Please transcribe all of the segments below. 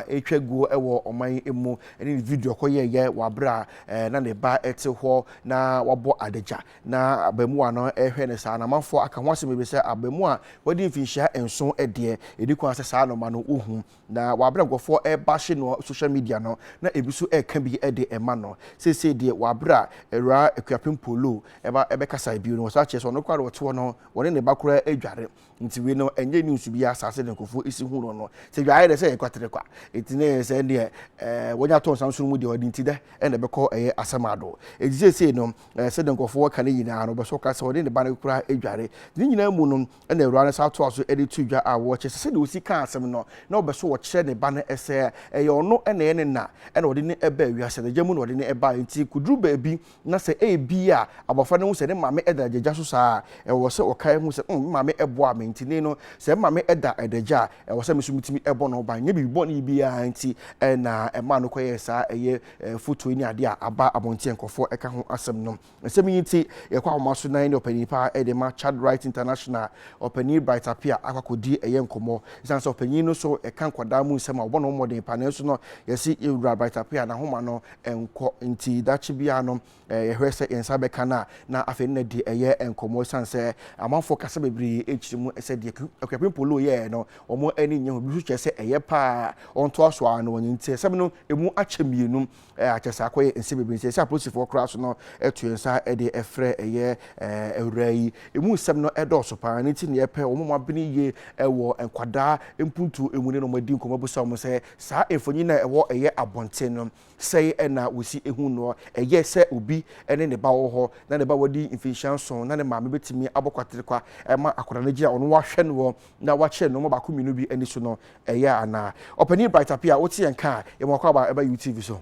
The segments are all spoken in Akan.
ɛretwa guo wɔ ɔman yi mu ne ne video a ɔkɔyɛeɛ wɔ aberɛ a na ne ba te hɔ na wabɔ adagya na abaamua no rehwɛ no saa. Na amanfoɔ aka ho asɛm bebree sɛ abaamua a wadi mfinhyia nson deɛ, ɛdi kwan sɛ saa nnoɔma no ɔhu. Na wɔ aberɛ a nkurɔfoɔ rebahye no wɔ social media no, na ebi nso reka bi de rema no. Seesei deɛ, wɔ aberɛ a Awuraa Akuapem Paul Loo bɛkasaeɛ bio no, wɔsan kyerɛɛ sɛ ɔno koraa deɛ ɔte hɔ no, ɔne ne ba koraa dware. Ntsi wei no nnyɛ news biara asaase no nkorɔfo esi hu no no. Sɛ dwa ayɛ dɛ sɛ yɛ kwater kwa ntsi na yɛyɛ sɛ ndeɛ ɛɛ wɔnya tɔn samson mu deɛ ɔde ntsi dɛ na ɛbɛkɔ ɛyɛ asɛm ado. Ntsi seisei no ɛɛ sɛdeɛ nkorɔfo wɔka no nyinaa no bɔsɔ ɔka sɛ ɔne ne ba no kura edware. Ne nyinaa mu no na Ewura no san toa so de too dwa a wɔkyɛ sɛ sɛdeɛ osi kaa asɛm no na ɔbɛsɔ ɔkyerɛ ne ba no sɛ ɛyɛ ɔno na ɛyɛ ne na na ɔde no baa wiase no gya mu na ɔde no baeɛ ntsi kodur baabi Na sɛ ebia abofra no hu sɛ ne maame da adagya so saa a, ɛwɔ sɛ ɔkae hu sɛ, 'Umm, me maame boaa me, enti nnɛ yi no, sɛ me maame da adagya a, ɛwɔ sɛ me nso mitumi bɔ no ban. Ɛnyɛ biribi bɔne biara nti na ɛmaa no kɔyɛɛ saa, ɛyɛ mfutoi ne ade a aba abɔnten a nkurɔfo ka ho asɛm no. Nsɛm yi nti, yɛkɔ ahoma so nan ne ɔpanyin pa de ma Child Rights International, Ɔpanyin Bright Appiah akɔ akodi ɛyɛ nkɔmmɔ. Esiane sɛ ɔpanyin no nso ka nkwadaa mu nsɛm a, ɔbɔ ne ho mmɔden paa, nanso no, yɛse Owura Bright Appiah, n'ahoma no nkɔ. Nti daakye biara no, yɛhwɛ sɛ yɛn nsa bɛka no a, na afei ne no de yɛ nkɔmmɔ esiane sɛ amanfoɔ kasa bebree kyerɛ mu sɛ deɛ Akuapem Polo yɛeɛ no, wɔn ani nnye ho. Ebi nso kyerɛ sɛ ɛyɛ pa ara, ɔntoa so ara na ɔnyɛ. Nti nsɛm no, emu akyɛ mmienu a kyerɛ sɛ akɔyɛ nsɛm bebree. Nti ɛsɛ sɛ apolisifoɔ koraa so no to yɛn nsa de frɛ ɛyɛ awuraa yi. Emu nsɛm no dɔɔso pa ara. Ɛno nti na yɛpɛ wɔn a wɔabene yie wɔ nkwadaa mpuntuo mu ne wɔn adi nkɔmmɔ abisa wɔn sɛ Saa mfonyin a ɛwɔ ɛyɛ abɔnten no, sɛe na wosi hu no. Ɛyɛ sɛ obi ne ne ba wɔ hɔ, na ne ba wadi mfinhyia nson, na ne maame betumi abɔ kwaterekwa ma akwadaa no agyina ɔno wahwɛ noɔ na wakyerɛ nnoɔma baako mmienu bi ani so no. Ɛyɛ anaa? Ɔpanyin Bright Appiah, wote yɛn nka a, yɛma wo akwaaba ba UTV so.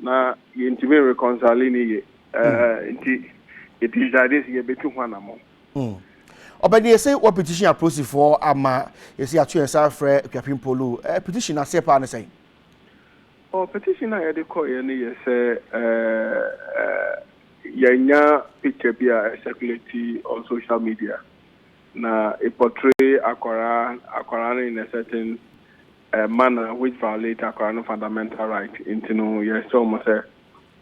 Na yɛntumi nreconcile no yie nti yɛ decide sɛ yɛbɛtu ho anamɔn. Ɔbɛne yɛse wɔ petition a prosifoɔ ama yɛse yɛato yɛnsa afrɛ Akuapem Polo, petition no aseɛ paa ne sɛn? Oh petition a yɛde kɔeɛ no yɛ sɛ yɛanya picture bi a ɛcirculate on social media na ɛportray akwadaa no in a certain manner which violate akwadaa no fundamental right nti no yɛsrɛ wɔn sɛ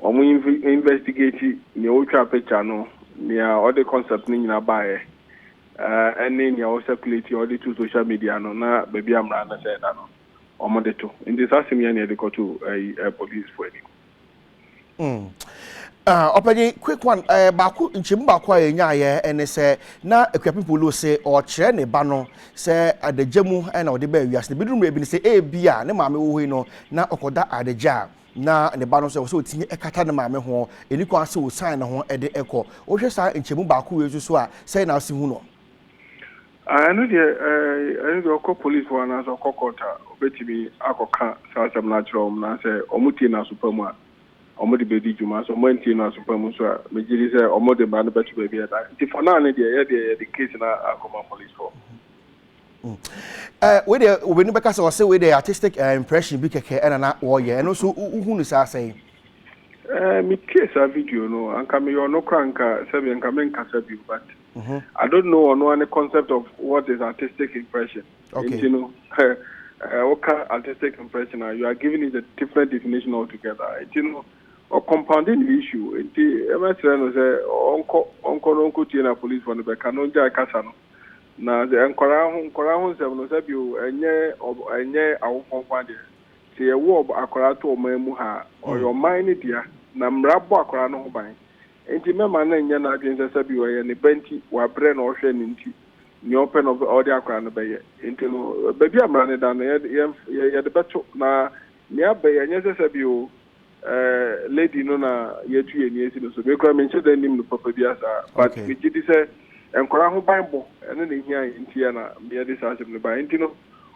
wɔn inv investigate nea ɔtwaa picture no, nea ɔde concept no nyinaa baeɛ eh, ɛne nea ɔ circulate yɛ ɔde to social media no na baabi a mmara no sɛ ɛda no wɔn de to. Nti saa asɛm yi ara na yɛde kɔto ɛyi eh, police foɔ anim. Mm. Uh, ɔpɛnyin quick one uh, baako nkyɛmu baako a yɛnyaayɛ ɛne sɛ na akuapem polo se ɔkyerɛ ne ba no sɛ adagya mu na ɔde bɛɛ wiase no biduru mmerɛ bi no sɛ ebi a ne maame wɔ hɔ yi no na ɔkɔda adagya a na ne ba no sɛ ɔsɛ ɔtumi ɛkata ne maame ho ɛni kwan sɛ ɔsan ne ho ɛde ɛkɔ wohwɛ saa nkyɛmu baako wei nso so a sɛ na ase hu no Ah ɛno deɛ eh ɛno deɛ ɔkɔ police hɔ anaasɛ ɔkɔ court a ɔbɛtumi akɔka saa asɛm no akyerɛ wɔn naasɛ wɔn tie no aso pa mu a wɔn de bɛdi dwuma sɛ wɔn antie no aso pa mu nso a megye di sɛ wɔn de mmara no bɛto baabi a ɛda nti for now no deɛ yɛ deɛ yɛde case no akɔma police hɔ. Eh wei deɛ obɛni bɛka sɛ ɔse wei deɛ artistic eh, impression bi kɛkɛ ɛna na wɔyɛ ɛno nso wohu no saa sɛn? Eh metie saa video no anka meyɛ ɔno koraa anka sɛbi anka menkasa bio but I don't know ɔno ara ne concept of what is artistic impression. Okay. Nti no, woka artistic impression a, you are giving it a different definition altogether. Nti no, ɔ compounding the issue. Nti ɛmɛsrɛ no sɛ ɔnkɔ ɔnkɔ no ɔnkɔ tie na police fɔ no bɛka no ɔngyae kasa no. Na sɛ nkwaraa ho nkwaraa ho nsɛm no sɛbio ɛnyɛ ɛnyɛ awofo nko adeɛ. Sɛ yɛwo akwaraa to ɔman mu ha a, ɔyɛ ɔman no dea. Na mmara bɔ akwaraa no ho ban. Enti mɛma no nyɛ n'adwene sɛ sɛbi ɔyɛ ne ba nti wabrɛ na ɔhwɛ no nti nea ɔpɛ na ɔde akora no bɛyɛ. Enti no, baabi a mmara no da no, yɛde bɛto. Na nea aba yi, ɛnyɛ sɛ sɛbi o, ɛɛ, lady no na yɛatu yɛn ani asi no so. Me koraa menhyɛ da nnim no papa biara saa. But megye di sɛ nkwadaa ho banbɔ, ɛno na ɛhia yɛn nti a na meyɛ de saa asɛm no baeɛ. Enti no,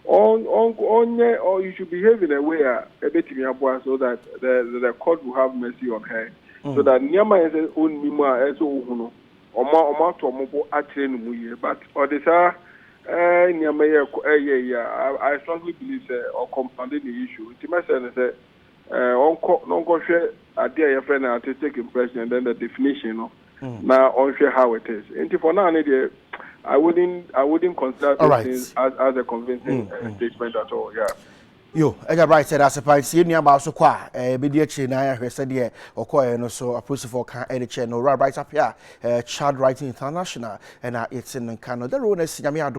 ɔnyɛ you should behave in a way a ɛbɛtumi aboa so that the the court will have mercy on her so that nneɛma yɛ sɛ ɔnnim a ɛsɛ ɔhu no ɔma ɔma ato ɔmo bo akyerɛ no mu yie but ɔde saa ɛɛ nneɛma yɛ ɛyɛ yɛ a I strongly believe sɛ ɔcompound ne issue nti mɛsɛ no sɛ ɔnkɔ na ɔnkɔhwɛ adeɛ a yɛfrɛ no artistic impression and then the definition no mm. na ɔnhwɛ how it is nti for now ne deɛ I wouldn't I wouldn't consider those right. things as, as a convincing mm, uh, mm. statement at all yeah. yo ɛgya bright sɛ dase pa ntie nuabaa so kɔ a eh, ɛbɛdi akyire na ayɛhwɛ sɛdeɛ ɔkɔɛ no so apolisifoɔ ka ɛde kyɛ no owura bright apɛ a eh, child right international ɛna yɛte no nka no dɛro no asi nyame ado